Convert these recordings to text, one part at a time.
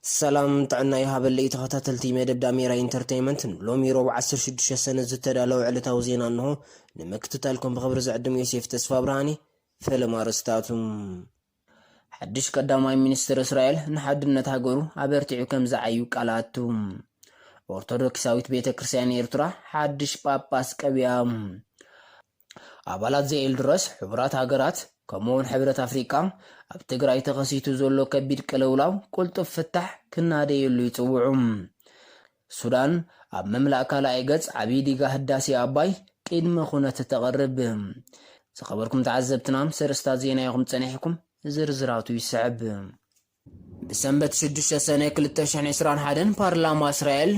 ሰላም ጥዕና ይሃበለይ ተኸታተልቲ መደብ ዳሜራ ኢንተርተይመንት ንሎሚ ሮብ 16 ሰነ ዝተዳለወ ዕለታዊ ዜና እንሆ ንምክትታልኩም ብኽብሪ ዝዕድም ዮሴፍ ተስፋ ብርሃኔ ፈለማ ርስታቱ ሓድሽ ቀዳማይ ሚኒስትር እስራኤል ንሓድነት ሃገሩ ኣበርቲዑ ከም ዝዓዩ ቃል ኣቱ ኦርቶዶክሳዊት ቤተ ክርስቲያን ኤርትራ ሓድሽ ጳጳስ ቀቢኣ ኣባላት ዘኤልድረስ ሕቡራት ሃገራት ከምኡውን ሕብረት ኣፍሪቃ ኣብ ትግራይ ተኸሲቱ ዘሎ ከቢድ ቅልውላው ቁልጡፍ ፍታሕ ክናደየሉ ይጽውዑ። ሱዳን ኣብ ምምላእ ካልኣይ ገጽ ዓብዪ ዲጋ ህዳሴ ኣባይ ቂድመ ኩነት ተቕርብ። ዝኸበርኩም ተዓዘብትና ምስ ኣርእስታት ዜና ኢኹም ጸኒሕኩም፣ ዝርዝራቱ ይስዕብ። ብሰንበት ሽዱሽተ ሰነ ክልተ ሽሕን ዕስራን ሓደን ፓርላማ እስራኤል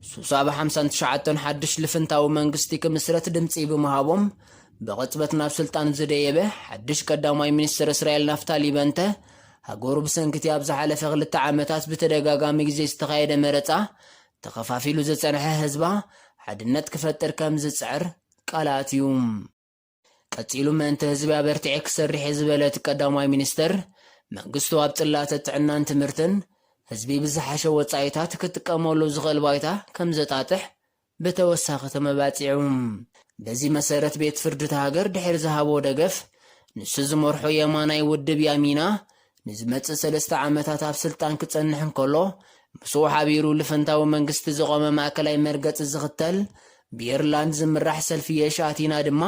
ሱሳ ብ ሓምሳን ትሽዓተን ሓድሽ ልፍንታዊ መንግስቲ ክምስረት ድምጺ ብምሃቦም ብቕጽበት ናብ ስልጣን ዝደየበ ሓድሽ ቀዳማይ ሚኒስተር እስራኤል ናፍታሊ በንተ ሃገሩ ብሰንኪ'ቲ ኣብ ዝሓለፈ ክልተ ዓመታት ብተደጋጋሚ ግዜ ዝተኻየደ መረጻ ተኸፋፊሉ ዝጸንሐ ህዝባ ሓድነት ክፈጥር ከም ዝጽዕር ቃል ኣትዩ። ቀጺሉ ምእንተ ህዝቢ ኣበርቲዐ ክሰርሕ እየ ዝበለ እቲ ቀዳማይ ሚኒስተር፣ መንግስቱ ኣብ ጽላተ ጥዕናን ትምህርትን ህዝቢ ብዝሓሸ ወጻኢታት ክጥቀመሉ ዝኽእል ባይታ ከምዘጣጥሕ ብተወሳኺ ተመባጺዑ። በዚ መሰረት ቤት ፍርዲ እታ ሃገር ድሕሪ ዝሃቦ ደገፍ፣ ንሱ ዝመርሖ የማናይ ውድብ ያሚና ንዝመጽእ ሰለስተ ዓመታት ኣብ ስልጣን ክጸንሕ እንከሎ፣ ምስኡ ሓቢሩ ልፍንታዊ መንግስቲ ዝቖመ ማእከላይ መርገጺ ዝኽተል ብየርላንድ ዝምራሕ ሰልፊ የሽ ኣቲና ድማ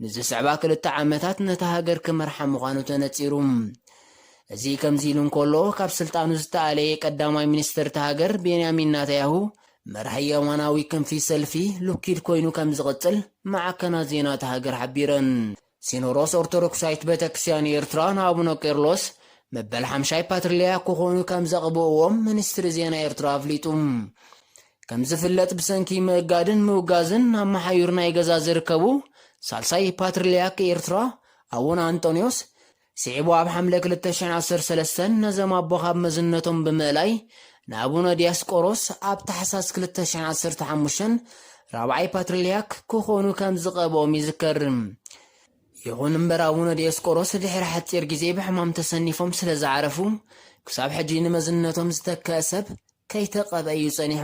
ንዝስዕባ ክልተ ዓመታት ነታ ሃገር ክመርሓ ምዃኑ ተነጺሩ። እዚ ከምዚ ኢሉ እንከሎ፣ ካብ ስልጣኑ ዝተኣለየ ቀዳማይ ሚኒስተር እታ ሃገር ቤንያሚን ናታያሁ፣ መራሒ የማናዊ ክንፊ ሰልፊ ሉኪድ ኮይኑ ከምዝቕጽል ማዕከናት ዜና እታ ሃገር ሓቢረን። ሲኖዶስ ኦርቶዶክሳዊት ቤተክርስቲያን ኤርትራ ንኣቡነ ቄርሎስ መበል ሓምሻይ ፓትርሊያክ ክኾኑ ከም ዘቕብእዎም ሚኒስትሪ ዜና ኤርትራ ኣፍሊጡ። ከም ዝፍለጥ ብሰንኪ ምእጋድን ምውጋዝን ኣብ መሓዩር ናይ ገዛ ዝርከቡ ሳልሳይ ፓትርሊያክ ኤርትራ ኣቡነ ኣንጦንዮስ ስዒቡ ኣብ ሓምለ ክልተ ሽሕን ዓሰርተ ሰለስተን ነዞም ኣቦ ካብ መዝነቶም ብምእላይ ንኣቡነ ዲያስቆሮስ ኣብ ታሕሳስ ክልተ ሽሕን ዓሰርተ ሓሙሽተን ራብዓይ ፓትርልያክ ክኾኑ ከም ዝቐብኦም ይዝከር። ይኹን እምበር ኣቡነ ዲዮስቆሮስ ድሕሪ ሓጺር ግዜ ብሕማም ተሰኒፎም ስለ ዝዓረፉ ክሳብ ሕጂ ንመዝነቶም ዝተከእ ሰብ ከይተቐብአ እዩ ጸኒሑ።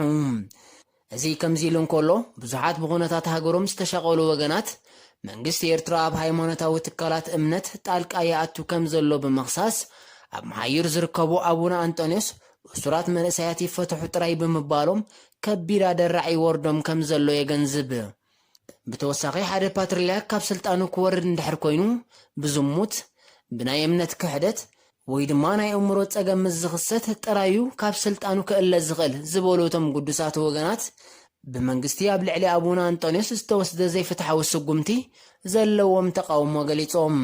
እዚ ከምዚ ኢሉ እንከሎ፣ ብዙሓት ብኹነታት ሃገሮም ዝተሻቐሉ ወገናት፣ መንግስቲ ኤርትራ ኣብ ሃይማኖታዊ ትካላት እምነት ጣልቃ ይኣቱ ከምዘሎ ብምኽሳስ፣ ኣብ መሓይር ዝርከቡ ኣቡነ ኣንጠንዮስ እሱራት መንእሰያት ይፈትሑ ጥራይ ብምባሎም ከቢድ ኣደራዕ ይወርዶም ከምዘሎ የገንዝብ። ብተወሳኺ ሓደ ፓትርያርክ ካብ ስልጣኑ ክወርድ እንድሕር ኮይኑ ብዝሙት፣ ብናይ እምነት ክሕደት ወይ ድማ ናይ እእምሮ ጸገም ምስ ዝኽሰት ጥራይ እዩ ካብ ስልጣኑ ክእለ ዝኽእል ዝበሉ እቶም ግዱሳት ወገናት ብመንግስቲ ኣብ ልዕሊ ኣቡነ ኣንጦንዮስ ዝተወስደ ዘይፍትሓዊ ስጉምቲ ዘለዎም ተቓውሞ ገሊጾም።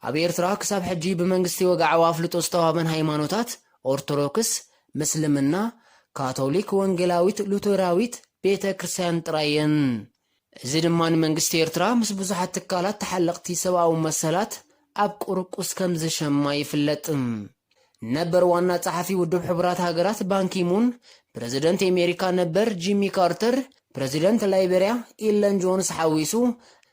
ኣብ ኤርትራ ክሳብ ሕጂ ብመንግስቲ ወግዓዊ ኣፍልጦ ዝተዋህበን ሃይማኖታት፣ ኦርቶዶክስ፣ ምስልምና፣ ካቶሊክ፣ ወንጌላዊት፣ ሉተራዊት፣ ቤተ ክርስቲያን ጥራይ እየን። እዚ ድማ ንመንግስቲ ኤርትራ ምስ ብዙሓት ትካላት ተሓለቕቲ ሰብኣዊ መሰላት ኣብ ቁርቁስ ከም ዝሸማ ይፍለጥ። ነበር ዋና ጸሓፊ ውድብ ሕቡራት ሃገራት ባንኪ ሙን፣ ፕረዚደንት ኤሜሪካ ነበር ጂሚ ካርተር፣ ፕረዚደንት ላይበርያ ኢለን ጆንስ ሓዊሱ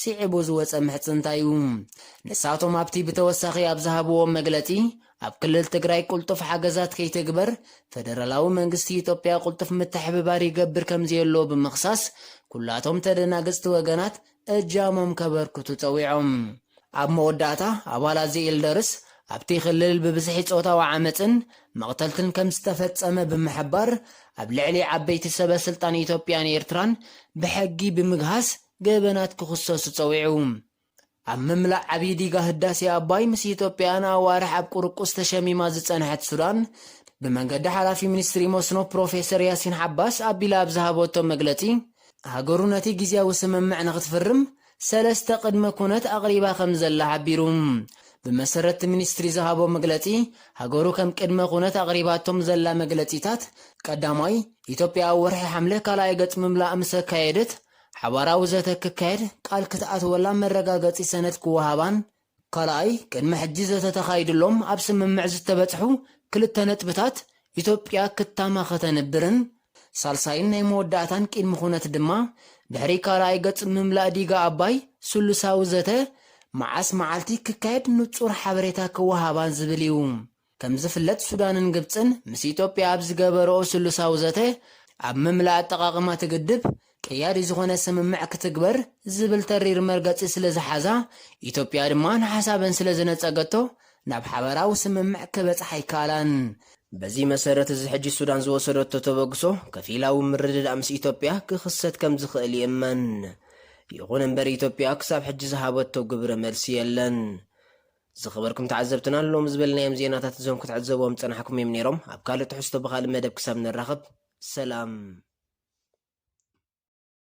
ስዒቡ ዝወጸ ምሕጽንታ'ዩ። ንሳቶም ኣብቲ ብተወሳኺ ኣብ ዝሃብዎ መግለጺ፣ ኣብ ክልል ትግራይ ቅልጡፍ ሓገዛት ከይትግበር ፈደራላዊ መንግስቲ ኢትዮጵያ ቅልጡፍ ምትሕብባር ይገብር ከምዘየሎ ብምኽሳስ፣ ኩላቶም ተደናገጽቲ ወገናት እጃሞም ከበርክቱ ጸዊዖም። ኣብ መወዳእታ፣ ኣባላት ዘኤልደርስ፣ ኣብቲ ክልል ብብዝሒ ጾታዊ ዓመጽን መቕተልትን ከምዝተፈጸመ ብምሕባር፣ ኣብ ልዕሊ ዓበይቲ ሰበ-ስልጣን ኢትዮጵያን ኤርትራን ብሕጊ ብምግሃስ፣ ገበናት ክኽሰሱ ጸዊዑ። ኣብ ምምላእ ዓብዪ ዲጋ ህዳሴ ኣባይ ምስ ኢትዮጵያ ንኣዋርሕ ኣብ ቁርቁስ ተሸሚማ ዝጸንሐት ሱዳን፣ ብመንገዲ ሓላፊ ሚኒስትሪ መስኖ ፕሮፌሰር ያሲን ዓባስ ኣቢላ ኣብ ዝሃበቶ መግለጺ፣ ሃገሩ ነቲ ግዝያዊ ስምምዕ ንኽትፍርም ሰለስተ ቅድመ ኩነት ኣቕሪባ ከምዘላ ሓቢሩ። ብመሰረት'ቲ ሚኒስትሪ ዝሃቦ መግለጺ፣ ሃገሩ ከም ቅድመ ኩነት ኣቕሪባቶም ዘላ መግለጺታት፣ ቀዳማይ፣ ኢትዮጵያ ኣብ ወርሒ ሓምለ ካልኣይ ገጽ ምምላእ ምስ ኣካየደት፣ ሓባራዊ ዘተ ክካየድ ቃል ክትኣትወላ መረጋገጺ ሰነድ ክወሃባን፣ ካልኣይ፣ ቅድሚ ሕጂ ዘተ ተኻይድሎም ኣብ ስምምዕ ዝተበጽሑ ክልተ ነጥብታት ኢትዮጵያ ክታማ ከተንብርን፣ ሳልሳይን ናይ መወዳእታን ቂድሚ ኩነት ድማ፣ ድሕሪ ካልኣይ ገጽ ምምላእ ዲጋ ኣባይ፣ ስሉሳዊ ዘተ መዓስ መዓልቲ ክካየድ ንጹር ሓበሬታ ክወሃባን ዝብል እዩ። ከምዝፍለጥ ሱዳንን ግብጽን ምስ ኢትዮጵያ ኣብ ዝገበረኦ ስሉሳዊ ዘተ ኣብ ምምላእ ኣጠቓቕማ እቲ ግድብ ቀያዲ ዝኾነ ስምምዕ ክትግበር ዝብል ተሪር መርገጺ ስለዝሓዛ ኢትዮጵያ ድማ ንሓሳበን ስለዝነጸገቶ ናብ ሓበራዊ ስምምዕ ክበጽሓ ኣይከኣላን። በዚ መሰረት እዚ ሕጂ ሱዳን ዝወሰደቶ ተበግሶ ከፊላዊ ምርድዳእ ምስ ኢትዮጵያ ክኽሰት ከምዝኽእል ይእመን። ይኹን እምበር ኢትዮጵያ ክሳብ ሕጂ ዝሃበቶ ግብረ መልሲ የለን። ዝኸበርኩም ተዓዘብትና ሎሚ ዝበልናዮም ዜናታት እዞም ክትዕዘብዎም ዝጸናሕኩም እዮም ነይሮም። ኣብ ካልእ ትሕዝቶ ብኻልእ መደብ ክሳብ ንራኸብ ሰላም።